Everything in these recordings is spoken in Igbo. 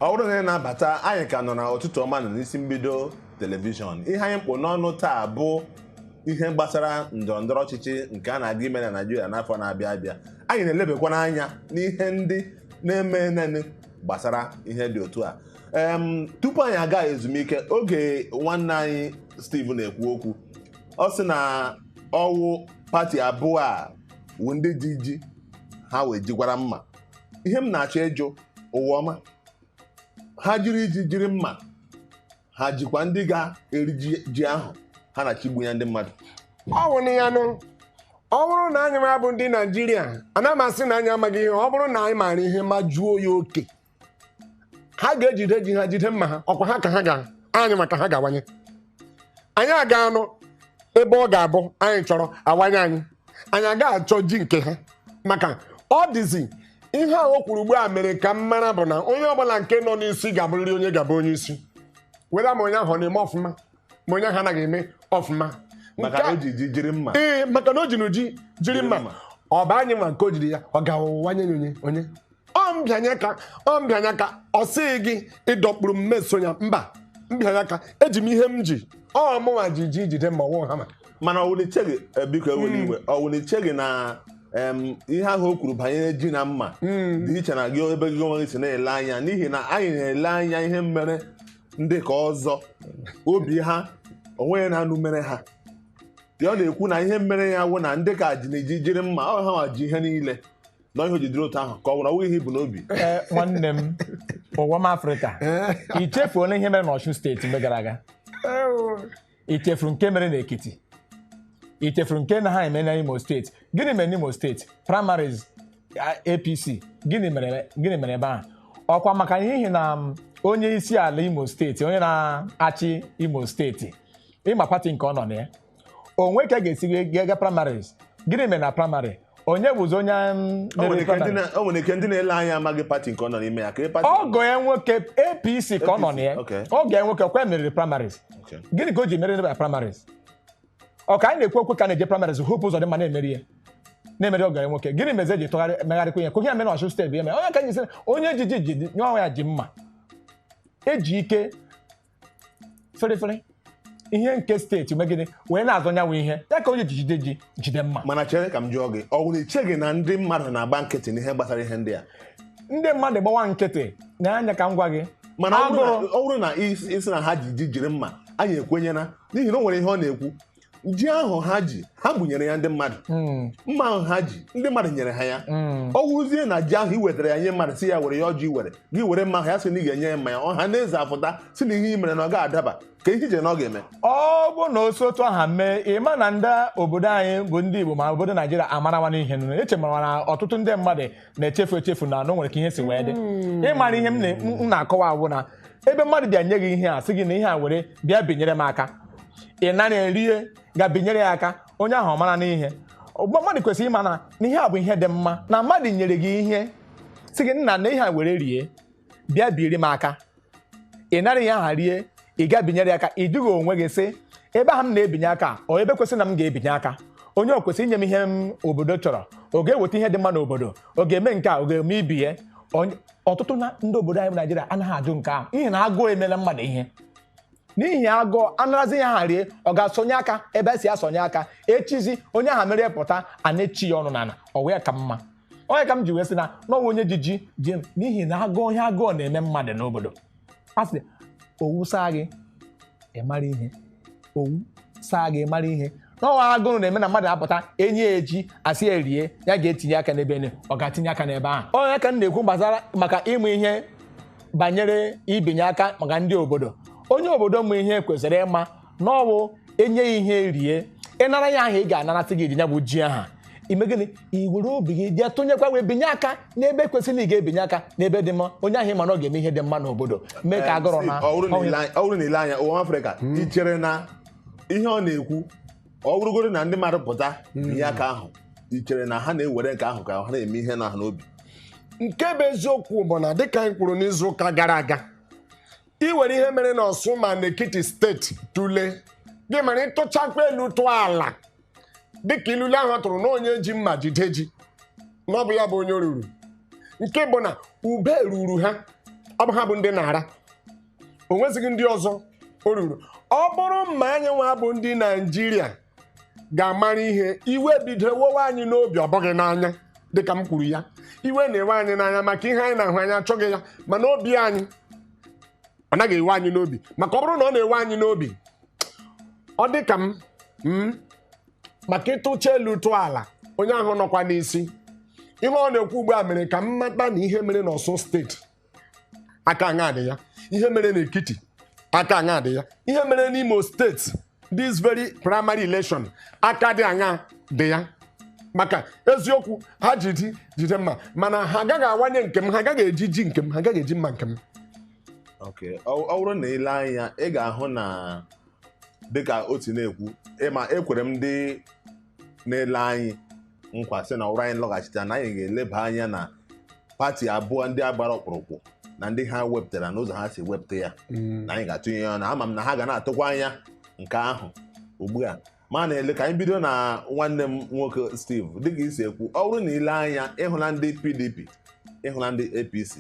ọ wụrụ na ị na-abata anyị ka nọ na ụtụtụ ọma nụ n'isi mbido telivishọn ihe anyị kpụ n'ọnụ taa bụ ihe gbasara ndọrọ ndọrọ ọchịchị nke a na-aga ime na Naịjirịa n'afọ na-abịa abịa anyị na-elebakwa anya n'ihe ndị na-emenụ gbasara ihe dị otu a em tupu anyị aga ezumike oge nwanne anyị Steve na-ekwu okwu ọ sị na ọ wụ pati abụọ a wụ ndị ji ji ha wee jikwara mma ihe m na-achọ ịjụ Ụwaọma ha jiri ji jiri mma ha jikwa ndị ga-eri ji ahụ ha na-achịgbu ya ndị mmadụ ọ wụ ya nụ ọ bụrụ na anyị nwa bụ ndị naijiria ana m asị na anyị amaghị ihe ọ bụrụ na anyị maara ihe majuo ya oke ha ga-ejide ji ha jide mma ha ọkwa ha ka ha ga anyị maka ha ga-awanye anyị aga anọ ebe ọ ga-abụ anyị chọrọ awanye anyị anyị agaghị achọ ji nke ha maka ọ dịzi ihe a o kwuru ugbu a mere ka m mara bụ na onye ọbụla nke nọ n'isi ga-abụrịrị onye ga-abụ onye isi whether ma onye ahụ ọ na-eme ọfụma ma onye ahụ anaghị eme ọfụma maka Nke na a- o ji ji jiri mma ee maka na o jinụ ji jiri mma mma. ọ bụ anyị nwa nke o jiri ya ọ ga-awanye ya onye onye ọ bịanye aka ọ bịanye aka ọ sị gị ị dọkpuru m meso ya mba m bịanye aka eji m ihe m ji ọ mụnwa ji ji jide mma ọwụ ha mana ọwụ na i cheghị eh, biko ewela iwe ọwụ na i cheghị na em, ihe ahụ o kwuru banyere ji na mma dị iche na gị ebe gị onwe gị si na-ele anya n'ihi na anyị na-ele anya ihe mere ndị ka ọzọ obi ha onweghị na-anụ mere ha ya ọ na-ekwu na ihe mere ya wụ na ndị ka jinụ ji jiri mma ọ ha nwa ji ihe niile na ihe o ji dịrị otu ahụ ka ọ nwere ọwụghị ihe i bu n'obi ee nwanne m Ụwaọma afrịka i chefuola ihe mere n'Ọshun steeti mgbe gara aga i chefuru nke mere n'ekiti i chefuru nke na ha eme na imo steeti gịnị mere n'imo steeti primaries a- apc gịnị mere gịnị mere ebe ahụ ọkwa maka n'ihi na em, onye isi ala imo steeti onye na-achị imo steeti ị ma pati nke ọ nọ na ya o nwere ka a ga-esi gị gaa gaa primaries gịnị mere na praịmarị onye bụzi onye mm, O nwere mere ike ndị praịmarị na- o nwere ike ndị na-ele anya amaghị pati nke ọ nọ n'ime ya ka ị pati ọgọ ya nwoke apc ka ọ nọ na ya APC, okay. ọgọ ya nwoke kwa meriri primaries Okay. gịnị ka o ji mere na primaries ọ ka anyị na-ekwu okwu ka a na-eje primaries Hope Ụzọdịmma na-emeri ya na-emeri ọgọ ya nwoke gịnị mezi e ji tụgharịa megharịkwa ya ka ihe a mere Ọshun steeti ya mere onye ka anyị sị onye ji ji ji nye ọnwa ya ji mma eji ike ferefere ihe nke steeti megide wee na-azọ nyanwa ihe a ka onye ji jide ji jide mma mana chere ka m jụọ gị ọ wụrụ i cheghị na ndị mmadụ na-agba nkịtị n'ihe gbasara ihe ndị a ndị mmadụ gbawa nkịtị na-anya ka m gwa gị mana ọ bụrụ na- Agụrụ. ọ bụrụ na ị sị ị sị na ha ji ji jiri mma anyị ekwenyela n'ihi na o nwere ihe ọ na-ekwu ji ahụ ha ji ha gbunyere ya ndị mmadụ hmm. mma ahụ ha ji ndị mmadụ nyere ha ya hmm. ọ wụrụzie na ji ahụ i wetara ya nye mmadụ sị ya were ya ọjị were gị were mma ahụ ya sị na ị ga-enye ya mmanya ọha na eze afụta sị na ihe i mere na ọ ga-adaba ka ihe ije na ọ ga-eme ọ bụ na o si otu aha mee ị ma na ndị obodo anyị bụ ndị Igbo ma obodo Naijiria amarawana ihe nụ eche mara na ọtụtụ ndị mmadụ na-echefu na o nwere ka ihe si wee dị hmm. ị mara ihe m na-akọwa awụ na ebe mmadụ bịa nye gị ihe a sị gị na ihe a were bịa binyere m aka ị nara ihe rie ga binyere ya aka onye ahụ ọ marana ihe mmadụ kwesịrị ịma na ihe a bụ ihe dị mma na mmadụ nyere gị ihe sị gị nna na ihe a were rie bịa biri m aka ị nara ihe aha rie ị ga binyere ya aka ị jụghị onwe gị sị ebe ahụ m na-ebinye aka ọ ebe kwesịrị na m ga-ebinye aka onye ọ kwesịrị inye m ihe obodo chọrọ ọ ga-eweta ihe dị mma n'obodo ọ ga-eme nke a ọ ga-eme ibe ya ọtụtụ na ndị obodo anyị bụ Naịjirịa anaghị ajụ nke ahụ n'ihi na agụụ emela mmadụ ihe n'ihi agụụ anarazi ihe aha rie ọ ga-asọnye aka ebe e si asọnye aka echizi onye ahụ merie pụta a na-echi ya ọnụ n'ala ọ wee ka mma ọ ya ka m ji wee sị na n'ọnwa onye ji ji ji n'ihi na agụụ ihe agụụ na-eme mmadụ n'obodo a sị owu saa gị ị mara ihe owu saa gị ị mara ihe n'ọnwa agụrụ na-eme na mmadụ apụta enye ya ji a sị ya rie ya ga tinye aka n'ebe ene ọ ga-etinye aka n'ebe ahụ ọ ya ka m na-ekwu gbasara maka ịmụ ihe banyere ibinye aka maka ndị obodo onye obodo mụ ihe kwesịrị ịma na ọ bụ enye ya ihe rie ị nara ya ahụ ị ga-anarasị ji ya bụ ji aha i mee gịnị i were obi gị jee tụnyekwa wee binye aka n'ebe kwesịrị na ị ga-ebinye aka n'ebe dị mma onye ahụ ị ma na ọ ga-eme ihe dị mma n'obodo mee ka agụrụ na ọ bụrụ na i lee anya- ọ bụrụ na i lee anya ụwa afrịka i chere na ihe ọ na-ekwu ọ bụrụgoro na ndị mmadụ pụta binye aka ahụ i chere na ha na-ewere nke ahụ ka ha na-eme ihe nọ ha n'obi nke bụ eziokwu bụ na dịka anyị kwuru n'izu ụka gara aga ị were ihe mere n'Ọsun ma n'Ekiti steeti tụlee gị mara ị tụchakwa elu tụọ ala dịka ilule ahụ tụrụ na onye ji mma jide ji na ọ bụ ya bụ onye o ruru nke bụ na ube ruru ha ọ bụ ha bụ ndị na-ara o nwezighị ndị ọzọ o ruru ọ bụrụ ma anyị nwa bụ ndị naijiria ga-amara ihe iwe bido wewe anyị n'obi ọ bụghị n'anya dịka m kwuru ya iwe na-ewe anyị n'anya maka ihe anyị na-ahụ anyị achọghị ya mana obi anyị ọ naghị ewe anyị n'obi maka ọ bụrụ na ọ na-ewe anyị n'obi ọ dị ka m m maka ị tụcha elu tụọ ala onye ahụ nọkwa n'isi ihe ọ na-ekwu ugbu a mere ka m mata na ihe mere n'Ọsun steeti aka aṅa dị ya ihe mere n'Ekiti aka aṅa dị ya ihe mere n'Imo steeti this very primary election aka dị aṅa dị ya maka eziokwu ha ji ji jide mma mana ha agaghị awanye nke m ha agaghị eji ji nke m ha agaghị eji mma nke m Okay. ọ ọ bụrụ na i lee anya ị ga-ahụ na dịka o si na-ekwu ị ma ekwere m ndị na-ele anyị nkwa sị na ọ wụrụ anyị lọghachite na anyị ga-eleba anya na pati abụọ ndị a gbara ọkpụrụkpụ na ndị ha wepụtara na ụzọ ha si wepụta ya na anyị ga-atụnye ya ọnụ ama m na ha ga na-atụkwa anya nke ahụ ugbu a ma na-ele ka anyị bido na nwanne m nwoke Steve dịka i si ekwu ọ bụrụ na i le anya ị hụla ndị PDP ị hụla ndị APC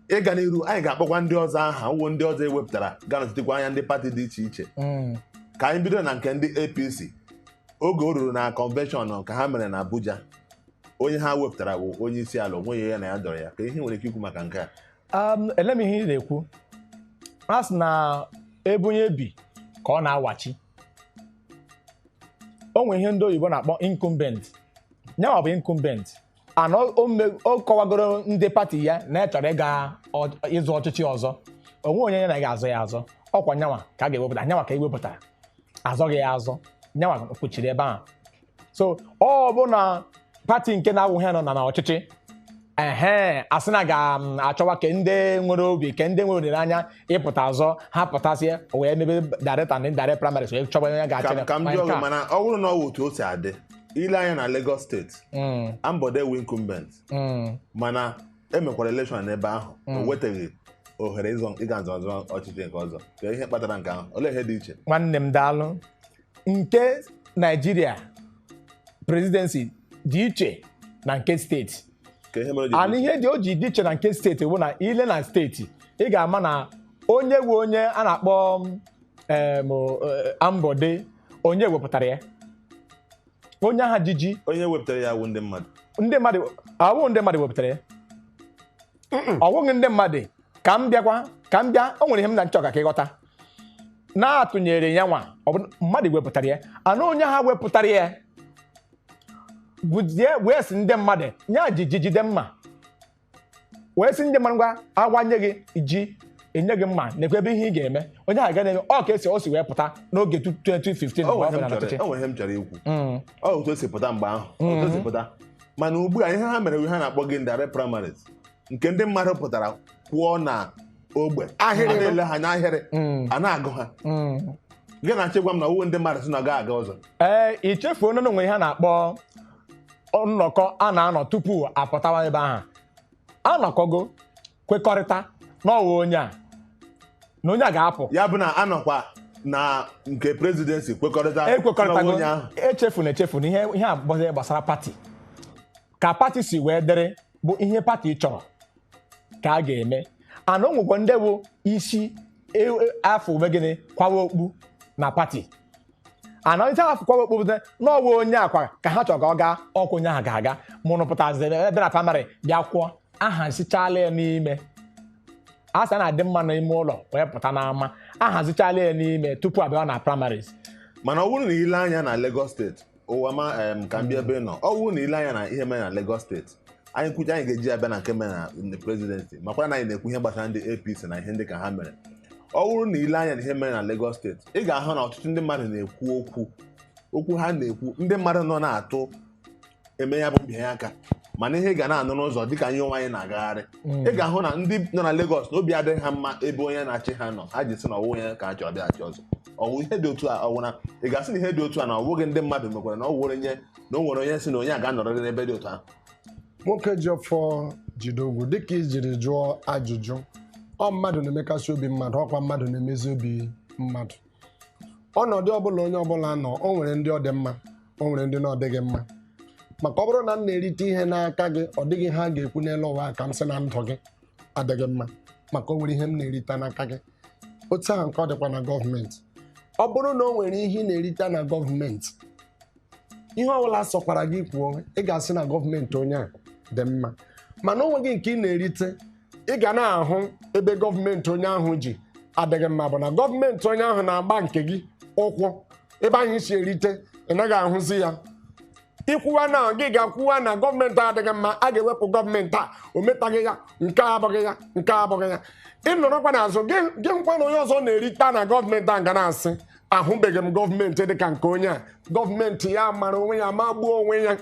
ị ga n'iru anyị ga-akpọkwa ndị ọzọ aha wụ ndị ọzọ e wepụtara ga-anọchitekwa anya ndị pati dị iche iche mm. ka anyị bido na nke ndị APC oge o ruru na convention ka ha mere na Abuja onye ha wepụtara bụ onye isi ala o nweghị ya na ya dọrọ ya kee ihe i nwere ike ikwu maka nke a um, ele m ihe ị na-ekwu a sị na ebe onye bi ka ọ na-awachi o nwere ihe ndị oyibo na-akpọ incumbent nyanwa bụ incumbent and o- o me- o kọwagoro ndị pati ya na ya chọrọ ịga ọ- ịzọ ọchịchị ọzọ o nwe onye ya na ga-azọ ya azọ ọ kwa nyanwa ka a ga-ewepụta nyanwa ka e wepụtara a zọghị ya azọ nyanwa kwụchiri ebe ahụ so ọ bụ na pati nke na-awụghị ya nọ na n'ọchịchị ehe a sị na a ga-achọwa ke ndị nwere obi ke ndị nwere olileanya ịpụta azọ ha pụtasịa o wee mebe direct and indirect primaries wee chọba onye ga-achị ka ka m ma jụọ nke gị a. mana ọ bụrụ na ọ wụ otu o si adị i le anya na Lagos steeti mm. Ambode wụ incumbent mm. mana e mekwara election n'ebe ahụ o mm. wetaghị ohere ịga nzọzọ ọchịchị nke ọzọ kee ihe kpatara nke ahụ olee ihe dị iche nwanne m daalụ nke Naijiria presidency dị iche na nke steeti and ihe dị o ji dị iche na nke steeti bụ na i le na steeti ị ga-ama na onye wụ onye a na-akpọ em, o- e, Ambode onye wepụtara ya onye ahụ ji ji onye wepụtara ya wụ ndị mmadụ ndị mmadụ ọ wụ ndị mmadụ wepụtara ya ọ wụghị ndị mmadụ ka m bịakwa ka m bịa o nwere ihe m na-achọ ka ka ị ghọta na a tụnyere ya nwa ọ bụ mmadụ wepụtara ya and onye ahụ wepụtara ya bịazie wee sị ndị mmadụ ya ji ji jide mma wee sị ndị mmadụ ngwa a wanye gị ji e nye gị mma nekwa ebe ihe ị ga-eme onye ahụ ga na-eme ọ ka e si o si wee pụta n'oge tu- 2015 o mgbe nwere ọ ihe m bụla n'ọchịchị chọrọ- o nwere ihe m chọrọ ikwu Mm. ọ otu o si pụta mgbe ahụ otu o si pụta mana ugbu a ihe ha mere ihe ha na-akpọ direct primaries nke ndị mmadụ pụtara kwụọ na ogbe ahịrị. a na-ele ha n'ahịrị Mm. a na-agụ ha Mm. gị na-achọ ịgwa m na ọ wụ ndị mmadụ sị na ọ gaghị aga ọzọ ee i chefuo na o nwe ihe a na-akpọ nnọkọ a na-anọ tupu a pụtawa ebe ahụ a nọkọgo kwekọrịta na ọ wụ onye a na onye a ga-apụ ya bụ na a nọkwa na nke presidency kwekọrịta e kwekọrịtago onye ahụ echefuna echefuna ihe ihe a bụ ihe gbasara pati ka pati si wee dịrị bụ ihe pati chọrọ ka a ga-eme ana o nwekwa ndị bụ isi e, e, a fụ mee gịnị kwawa okpu na pati ana onye a fụ kwawa okpu bụta na ọ wụ onye a kwa ka ha chọrọ ka ọ gaa ọkwa onye ahụ ga-aga mụrụ pụtazi ebe na praịmarị bịa kwụọ ahazichala ya n'ime a sị na-adị mma n'ime ụlọ wee pụta n'ama ahazichala ya n'ime tupu abịa na primaries mana ọ bụrụ na i lee anya na Lagos steeti ụwa ma em, ka m bịa ebe ị nọ ọ bụrụ na i lee anya na ihe mere na Lagos steeti anyị kwuchaa anyị ga-eji abịa na nke mere na ndị prezidenti makwara na anyị na-ekwu ihe gbasara ndị APC na ihe ndị ka ha mere ọ bụrụ na i lee anya na ihe mere na Lagos steeti ị ga-ahụ na ọtụtụ ndị mmadụ na-ekwu okwu okwu ha na-ekwu ndị mmadụ nọ na-atụ em ya bụ mbịanye aka mana ihe ị ga na-anụ n'ụzọ dịka anyị onwe anyị na-agagharị ị ga-ahụ na ndị nọ na Lagos na obi adịghị ha mma ebe onye na-achị ha nọ ha ji sị na ọ wụ onye ka a chọrọ ọ bịa achị ọzọ ọ wụ ihe dị otu a ọ wụ na ị ga-asị na ihe dị otu a na ọ bụghị ndị mmadụ mekwara na ọ wụrụ onye na o nwere onye sị na onye a ga-anọrịrị n'ebe dị otu ahụ nwoke ji ọfọ jide ogu dịka i jiri jụọ ajụjụ ọ mmadụ na-emekasị obi mmadụ ọ kwa mmadụ na-emezi obi mmadụ ọnọdụ ọbụla onye ọbụla nọ o nwere ndị ọ dị mma o nwere ndị na ọ dịghị mma maka ọ bụrụ na m na-erite ihe n'aka gị ọ dịghị ihe a ga-ekwu n'elu ụwa a ka m sị na ndụ gị adịghị mma maka o nwere ihe m na-erite n'aka gị otu ahụ nke ọ dịkwa na gọọmenti ọ bụrụ na o nwere ihe ị na-erite na gọọmenti ihe ọbụla sọkwara gị kwuo ị ga-asị na gọọmenti onye a dị mma mana o nweghị nke ị na-erite ị ga na-ahụ ebe gọọmenti onye ahụ ji adịghị mma bụ na gọọmenti onye ahụ na-agba nke gị ụkwụ ebe ahụ i si erite ị naghị ahụzi ya i kwuwa na gị ga-ekwuwa na gọọmenti adịghị mma a ga-ewepụ gọọmenti a o metaghị ya nke a abụghị ya nke a abụghị ya ị nọrọkwa n'azụ gịkwa na onye ọzọ na-erite na gọọmenti a ga na-asị ahụbeghị m gọọmenti dịka nke onye a gọọmenti ya mara onwe ya magbuo onwe ya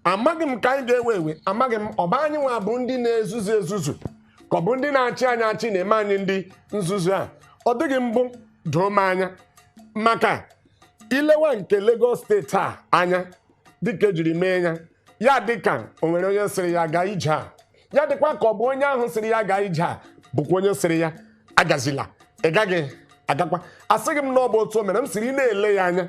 amaghị m ka anyị ga-ewe ewe amaghị m ọ bụ anyị nwa bụ ndị na-ezuzu ezuzu ka ọ bụ ndị na-achị anyị achị na-eme anyị ndị nzuzu a ọ dịghị mbụ doo m anya maka i lewa nke Lagos steeti a anya dịka e jiri mee ya ya dịka o nwere onye sịrị ya gaa ije a ya dịkwa ka ọ bụ onye ahụ sịrị ya gaa ije a bụkwa onye sịrị ya agazila ị gaghị agakwa asịghị m na ọ bụ otu o mere m sịrị ị na-ele ya anya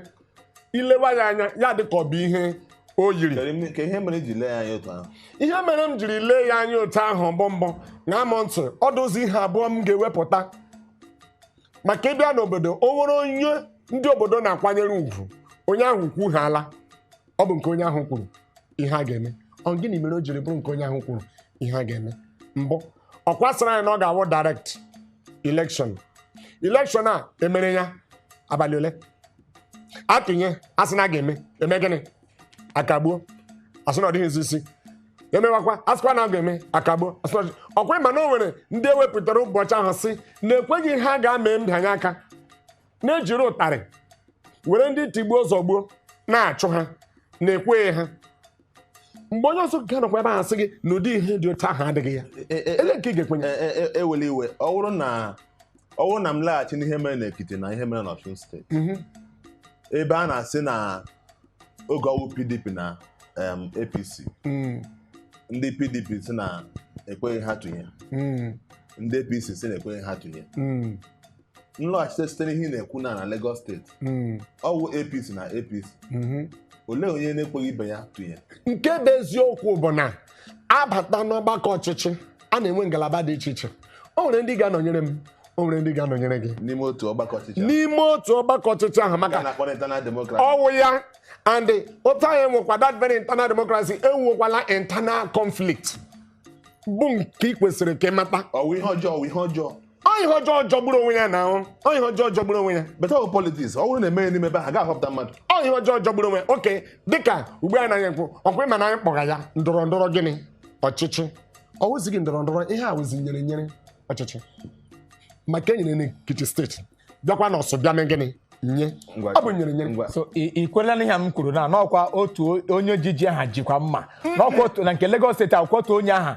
i lewa ya anya ya dịka ọ bụ ihe o yiri Kedu ime- ka ihe mere i ji lee ya anya otu ahụ ihe mere m jiri lee ya anya otu ahụ bụ mbụ ṅaa m ntị ọ dịzi ihe abụọ m ga-ewepụta maka ị bịa n'obodo o nwere onye ndị obodo na-akwanyere ugwu onye ahụ kwuhala ọ bụ nke onye ahụ kwuru ihe a ga-eme ọ gịnị mere o jiri bụrụ nke onye ahụ kwuru ihe a ga-eme mbụ ọ kwa a sịrị anyị na ọ ga-awụ direct election election a e mere ya abalị ole a tụnye a sị na a ga-eme eme gịnị akagbuo asị na ọ dịghịzi isi emewakwa asịkwa na ọ ga-eme akagbuo asị na ọ dị- ọkwa ịma na o nwere ndị ewepụtara ụbọchị ahụ sị na ekweghị ha gaa mee mbịanye aka na ejiri ụtarị were ndị tigbuo zọgbuo na-achụ ha na-ekweghị ha mgbe onye ọzọ ga-anọkwa ebe ahụ sị gị na ụdị ihe dị otu ahụ adịghị ya E- e- ele nke ị ga-ekwenye e- e- e- ewela iwe ọ bụrụ na ọ bụrụ na m laghachi n'ihe mere n'Ekiti na ihe mere n'Ọsun steeti Mhm. ebe a na-asị na oge ọwụ PDP na em, APC Mm, ndị PDP sị na ekweghị ha tụnye mm, ndị APC sị na ekweghị ha tụnye mm, nlọghachite site n'ihe ị na-ekwu na na Lagos steeti mm, ọwụ APC na APC mhm. olee onye na-ekweghị ibe ya tụnye nke bụ eziokwu bụ na abata n'ọgbakọ ọchịchị a na-enwe ngalaba dị iche iche o nwere ndị ga-anọnyere m o nwere ndị ga-anọnyere gị n'ime otu ọgbakọ ọchịchị ahụ. n'ime otu ọgbakọ ọchịchị ahụ Nke a maka na-akpọ internal democracy ọwụ ya and otu anyị nwekwa that very internal democracy enwekwala internal conflict bụ nke ị kwesịrị ka ị mata ọwụ ihe ọjọọ ọwụ ihe ọjọọ ihe ọjọọ jọgburu onwe ya na ahụ ihe ọjọọ jọgburu onwe ya beta ọ politiks ọ bụrụ na emeghị n'ime ebe ha ga-ahọpụta mmadụ ihe ọjọọ jọgburu onwe ya oke dịka ugbu a naghị ekwu ọkwa ịma na anyị kpọga ya ndọrọ ndọrọ gịnị ọchịchị ọ wụzighị ndọrọ ndọrọ ihe a wụzi nyere nyere ọchịchị maka enyere n'Ekiti steeti bịakwa n'Ọsun bịa mee gịnị nye ọ bụ nyere nyere so ị kwela na ihe m kwuru na n'ọkwa otu onye ji ji ahụ jikwa mma n'ọkwa otu na nke Lagos steeti ọ wụkwa otu onye ahụ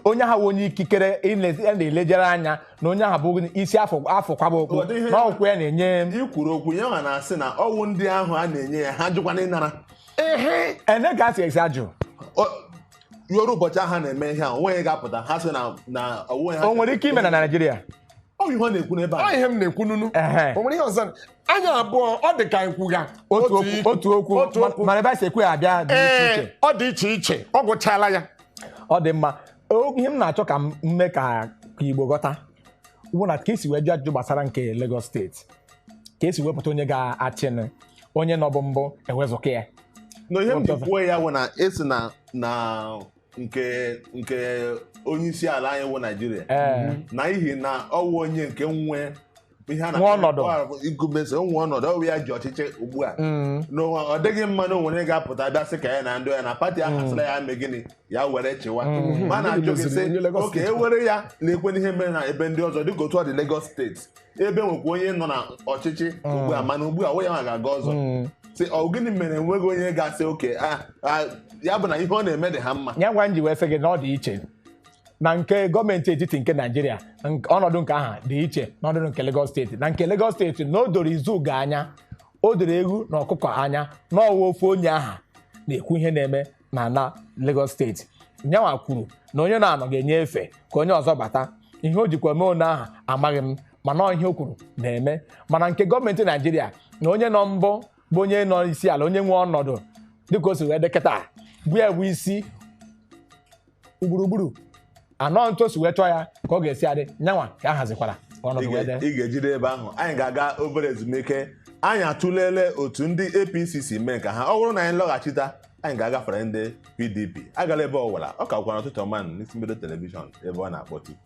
onye ahụ onye ikikere a na-elejere anya na onye ahụ bụ isi a fụ kwaba okpu na ọwụ ya na-enye ikwuru okwu ya ma na-asị na ọwụ ndị ahụ a na-enye ya ha jụkwana ịnara ehe ene ka asị esi ajụ ya ruo ụbọchị ahụ na-eme ihe a onweghị ga-apụta ha sị na onwe ha o nwere ike ime na Naịjirịa ọ ihe ọ na-ekwu n'ebe a ihe m na-ekwu nunu o nwere ihe ọzọ anyị abụọ ọ dị ka nkwugha otu okwu mana ebe a si ekwu ya abịa dị iche iche ọ gwụchala ya ọ dị mma O- ihe m na-achọ ka m mee ka ka Igbo ghọta wụ na ka esi wee jụ ajụjụ gbasara nke Lagos steeti ka esi wepụta onye ga-achịnụ onye nọbụ mbụ ewezụka ya na ihe m ji kwuo ya bụ na esi na na nke nke onye isi ala anyị wụ Naịjirịa ee n'ihi na ọ wụ onye nke nwe ihe a na- Nwe ọnọdụ. ọ- incumbency o nwe ọnọdụ ọwụ ya ji ọchịchị ugbu a Mm. n'ụwa ọ dịghị mma na onwere ga-apụta bịa sị ka ya na ndị ya na pati ahụ asịla ya mee gịnị ya were chịwa ma a na-ajụ gị sị Onye Lagos oke steeti. ewere ya na-ekwe n'ihe mere na ebe ndị ọzọ dịka otu ọ dị Lagos steeti ebe nwekwa onye nọ na ọchịchị ugbu a mana ugbu a onye nwa ga-aga ọzọ sị ọ gịnị mere enweghị onye ga-asị oke a- a- ya bụ na ihe ọ na-eme dị ha mma ya nwa m ji wee sị gị na ọ dị iche na nke gọọmenti etiti nke Naịjirịa nk- ọnọdụ nke aha dị iche n'ọnọdụ nke Lagos steeti na nke Lagos steeti na o doro izugbe anya o doro ewu na ọkụkọ anya na ọ wụ ofu onye aha na-ekwu ihe na-eme na ala Lagos steeti nyanwa kwuru na onye na-anọ ga-enye efe ka onye ọzọ bata ihe o jikwa mee onye aha amaghị m mana ọ ihe o kwuru na-eme mana nke gọọmenti Naịjirịa na onye nọ mbụ bụ onye nọ isi ala onye nwe ọnọdụ dịka o si wee dị kịta bụ ya bụ isi gburugburu anọ n'otu o si wee chọọ ya ka ọ ga-esi adị nyanwa ka a hazikwara ka ọnọdụ wee dị ị ga-ejide ebe ahụ anyị ga-aga obere ezumike anyị atụlele otu ndị APC si mee nke ha ọ bụrụ na anyị lọghachita anyị ga-agafere ndị PDP agala ebe ọwụla ọ kakwara ụtụtụ ọma n'Isi Mbido telivishọn ebe ọ na-akpọtụ